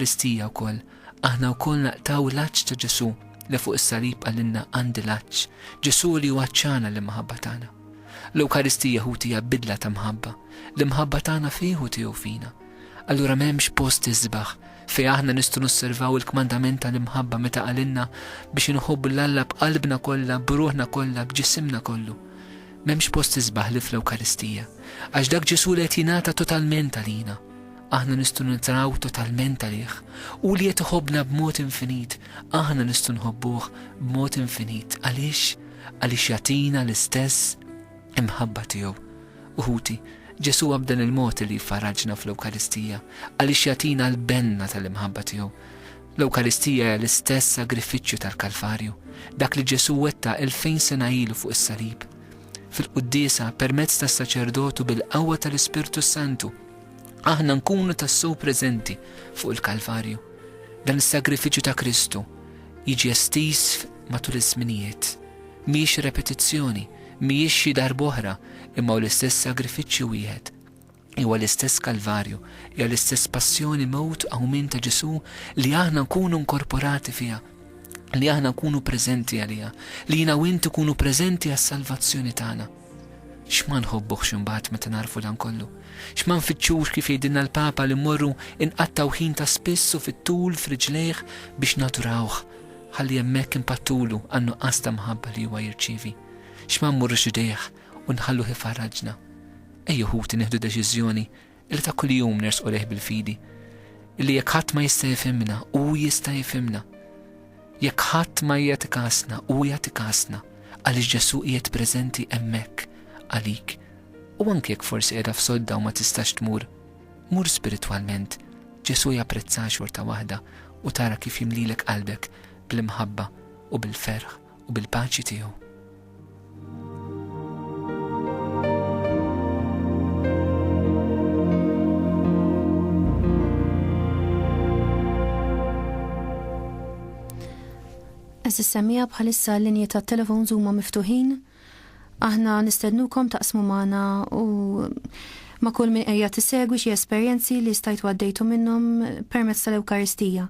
L-Ewkaristija wkoll, aħna wkoll naqtgħu l-għatx ta' Ġesù li fuq is-salib qalilna għandi l-għatx, Ġesù li hu għatxana l-imħabba tagħna. L-Ewkaristija ħuti hija bidla ta' mħabba, l-imħabba tagħna fih u tiegħu fina. Allura m'hemmx post isbaħ fejn aħna nistgħu nosservaw il-kmandament tal-imħabba meta qalilna biex inħobbu lil Alla b'qalbna kollha, b'ruħna kollha, b'ġisimna kollu. M'hemmx post isbaħ li fl-Ewkaristija, għax dak Ġesù li qed jingħata totalment għalina. Aħna nistgħu nintraw totalment għalih. Hu li qed iħobbna b'mod infinit, aħna nistgħu nħobbuh b'mod infinit. Għaliex? Għaliex jagħtina l-istess imħabba tiegħu. U ħuti, Ġesù hu b'dan il-mod li jiffarraġna fl-Ewkaristija, għaliex jagħtina l-benna tal-imħabba tiegħu. L-Ewkaristija hija l-istess sagrifiċċju tal-Kalvarju, dak li Ġesù wettaq il-fejn sena ilu fuq is-salib. Fil-quddiesa, permezz tas-saċerdotu bil-qawwa tal-Ispirtu Santu, aħna nkunu tassew preżenti fuq il-Kalvarju. Dan is-sagrifiċċju ta' Kristu jiġi estiż matul iż-żminijiet. Mhijiex repetizzjoni, mhijiex xi darb'oħra, imma hu l-istess sagrifiċċju wieħed. Huwa l-istess Kalvarju, hija l-istess passjoni mewt qawmien ta' Ġesù li aħna nkunu nkorporati fiha, li aħna nkunu preżenti għaliha, li jiena u int ikunu preżenti għas-salvazzjoni tagħna. X'ma nħobbuhx imbagħad meta nagħrfu dan kollu? X'ma nfittxux kif jgħidilna l-Papa li mmorru nqattgħu ħin ta' spiss u fit-tul f'riġlejh biex nadurawh, ħalli hemmhekk inpattulu għan-nuqqas ta' mħabba li huwa jirċievi? X'ma mmurrux idejh u nħalluh ifarraġna? Ejjew ħuti nieħdu deċiżjoni li ta' kuljum nersqu lejh bil-fidi, illi jekk ħadd ma jista' jifhimna, hu jista' jifhimna. Jekk ħadd ma jagħti kasna, hu jagħti kasna, għaliex Ġesù qiegħed preżenti hemmhekk għalik. U anki jekk forsi qiegħda f'sodda u ma tistax tmur, mur spiritwalment, Ġesù japprezza xorta waħda u tara kif jimlilek qalbek bl-imħabba u bil-ferħ. u bil-paċi tiegħu. Eżis semija bħalissa l-linji ta' telefon huma miftuħin. Aħna nistednukom taqsmu magħna u ma' kull min qiegħed tisegwi xi esperjenzi li stajtu għaddejtu minnhom permezz tal-Ewkaristija.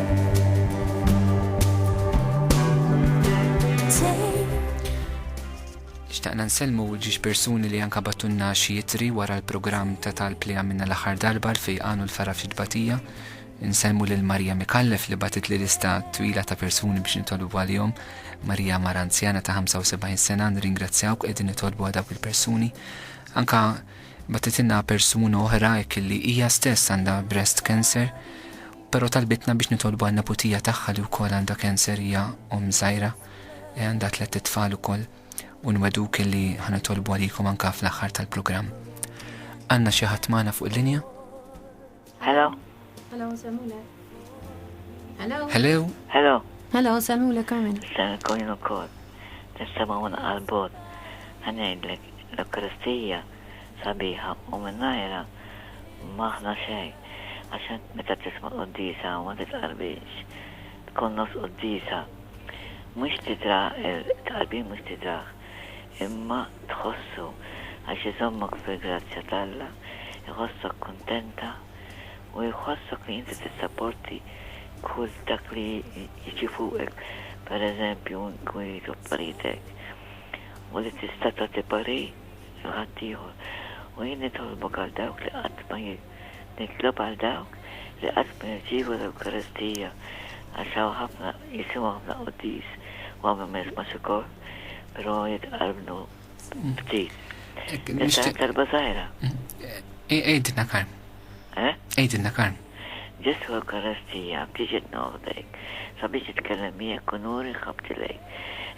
Xtaqna nsellmu ġiex persuni li anka battunna xi jitri wara l-programm ta' talb li għamilna l-aħħar darba l għanu l-fara ftit batija. Nsellmu lil Marija Mikallef li batit li lista twila ta' persuni biex nitolbu għalihom. Marija mara anzjana ta' 75 sena nringrazzjawk qegħdin nitolbu għal dawk il-persuni. Anka batitilna persuna oħra hekk li hija stess għandha breast cancer Però talbitna biex nitolbu għan-neputija tagħha li wkoll għandha cancer hija omm żgħira e għandha tlett itfal ukoll u nwegħduk illi ħa nitolbu għalikom anka fl-aħħar tal-programm. Għandna xi ħadd magħna fuq il-linja? Hello. Hello, nsemulek. Hello. Hello. Hello. Hello, nsemulek Carmen. Nsemulek jien ukoll. Nistema' un qalbot. Ħanejdlek l-Ewkaristija sabiħa u mingħajrha m'aħna xejn għax int meta tisma' l-quddiesa ma titqarbinx, tkun nofs quddiesa mhux tidra it-tqarbin mhux tidrah imma tħossu għax iżommok fil-grazzja t'Alla, iħossok kuntenta u jħossok li inti tissapporti kull dak li jiġi fuqek pereżempju inkun jridu affarijiet hekk u li tista' tagħti parir. jew ħaddieħor, u jien nitolbok għal dawk li qatt ma nitlob għal dawk li qatt ma jirċievu l-Ewkaristija, għax hawn ħafna jisimgħu ħafna quddis u hawn min ma jismax ukoll, però jitqarbnu ftit. Tista' tgħid talba żgħira? Għidilna Karm. Eh? Għidilna Karm. Ġesù Ewkaristija b'tiġi tnofdejk sabiex titkellem miegħek u nuri ħabbti lejk.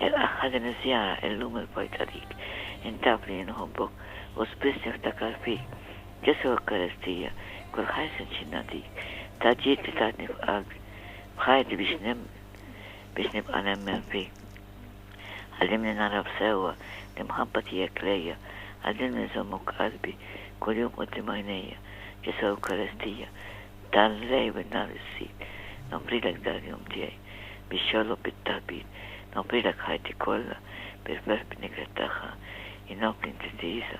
Ilqagħha din iż-żjara illum il-pojta dik. Int taf li jien nħobbok u spiss niftakar fik. Ġesù Ewkaristija kull ħajr sinċir nagħtik. Taġid li tatni f'qalbi. F'ħajti biex nemmen biex nibqa' nemmen fik. Għallimni nagħraf sewwa l-imħabba tiegħek lejja, għallimni nżommok qalbi kuljum quddiem għajnejja, Ġesù Ewkaristija, dan l-lejl bin-nhar issid, nofrilek dal-jum tiegħi biex jolloq bit-taħbit, nofrilek ħajti kollha bil-ferħ b'niked tagħha, jien nofri n-diżiża,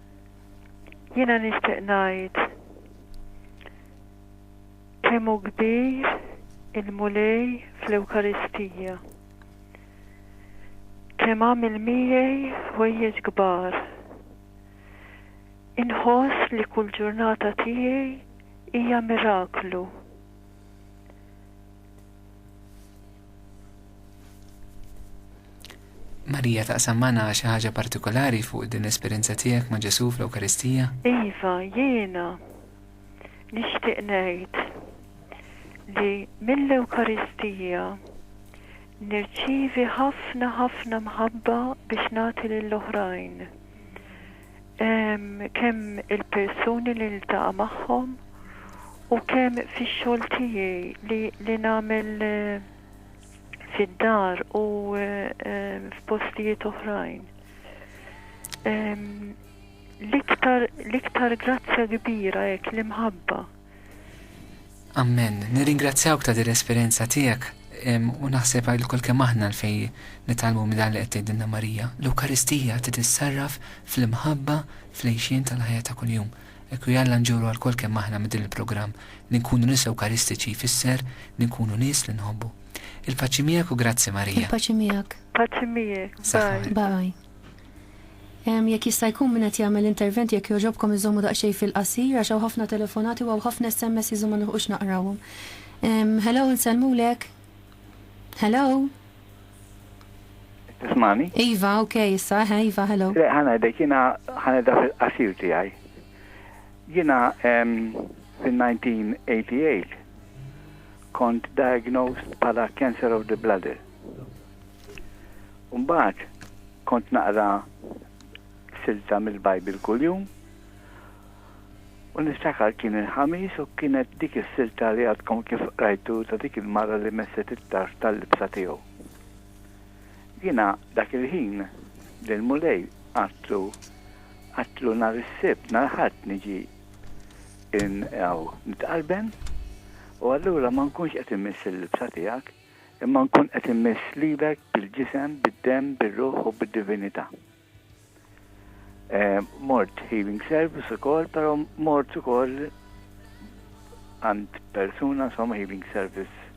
Jiena nixtieq ngħid kemm hu kbir il-Mulej fl-Ewkaristija. Kemm għamel miegħi ħwejjeġ kbar. Inħoss li kull ġurnata tiegħi hija miraklu. Marija taqsam magħna xi ħaġa partikolari fuq din l-esperjenza tiegħek ma' Ġesù fl-Ewkaristija? Iva, jiena nixtieq ngħid li mill-Ewkaristija nirċievi ħafna ħafna mħabba biex nagħti lill-oħrajn. kemm il-persuni li niltaqa' magħhom u kemm fix-xogħol tiegħi li li nagħmel fid-dar u f'postijiet oħrajn. L-iktar l-iktar grazzja kbira hekk l-imħabba. Amen. Nirringrazzjawk ta' din l-esperjenza tiegħek u naħseb għal kol kemm aħna l fej nitalmu minn dan li qed tgħidilna Marija. L-Ewkaristija trid issarraf fl-imħabba fl-għejxien tal-ħajja ta' kuljum. Ekku jalla nġuru għal kol kemm aħna minn din il-programm li nkunu nies Ewkaristiċi jfisser li nkunu nies li nħobbu. Il-paċi miegħek u grazzi Marija. Il-paċi miegħek. Paċi miegħek. Bye. Bye. Ehm, jekk jista' jkun min qed jagħmel intervent jekk jogħġobkom iżommu daqsxejn fil-qasir għax hawn ħafna telefonati u hawn ħafna SMSs u ma nilħqux naqrawhom. Ehm, hello nsellmulek. Hello? Tismani? Iva, ok, issa, eħe, Iva, hello. Le, ħana dek, jina ħana da fil-qasir tijaj. Jina ehm, fil-1988 kont diagnosed pala cancer of the bladder. U mbagħad kont naqra silta mill-Bible kuljum u niftakar kien il-Ħamis u kienet dik is-silta li għadkom kif qrajtu ta' dik il-mara li messet it-tarf tal-libsa tiegħu. Jiena dak il-ħin lill-Mulej għadtlu għadtlu nhar is-Sibt, nhar Ħadd niġi hawn nitqarben u allura ma nkunx qed imiss il-libsa tiegħek. imma nkun qed immiss lilek bil-ġisem, bid-demm, bir-ruħ u bid-divinità. Mort healing service ukoll, però mort ukoll għand persuna insomma healing service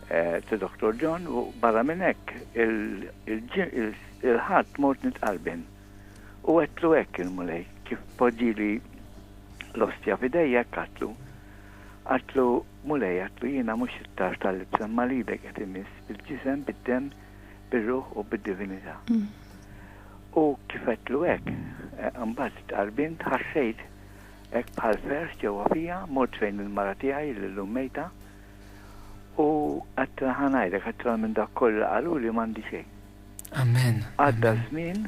ta' Dr. John u barra minn hekk il-ħadd mort nitqalbin. U għedtlu hekk il-Mulej kif poġġili l-ostja f'idejja hekk għadtlu. Għadtlu, Mulej, għadtlu, jiena mhux it-tarf tal-libsa imma l-idek qed imiss bil-ġisem, bid-demm, bir-ruħ u bid-divinità. U kif għedtlu hekk, imbagħad stqarbint, ħassejt hekk bħal ferħ ġewwa fija, mort fejn il-mara tiegħi li llum mejta u għedtla ħa ngħidlek aktar minn dak kollu li qaluli m'għandi xejn. Amen. Għadda żmien,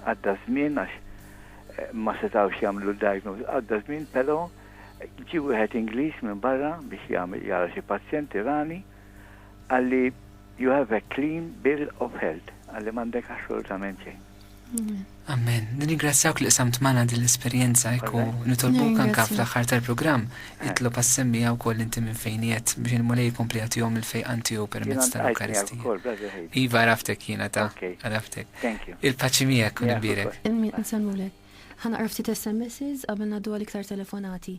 għadda żmien għax ma setgħux jagħmlu diagnose, għadda żmien però Ġie wieħed Ingliż minn barra biex jagħmel jara xi pazjenti rani, qalli you have a clean bill of health, qalli m'għandek assolutament xejn. Amen. Nirringrazzjawk li qsamt magħna din l-esperjenza hekk u nitolbuk anke fl-aħħar tal-programm itlob għas-semmija wkoll inti minn fejn qiegħed biex il-Mulej jkompli jagħtihom il-fejqan tiegħu permezz tal-Ewkaristija. Iva għaraftek jiena ta' għaraftek. Il-paċi miegħek u nibierek. Ħa naqra ftit SMSs qabel ngħaddu għal iktar telefonati.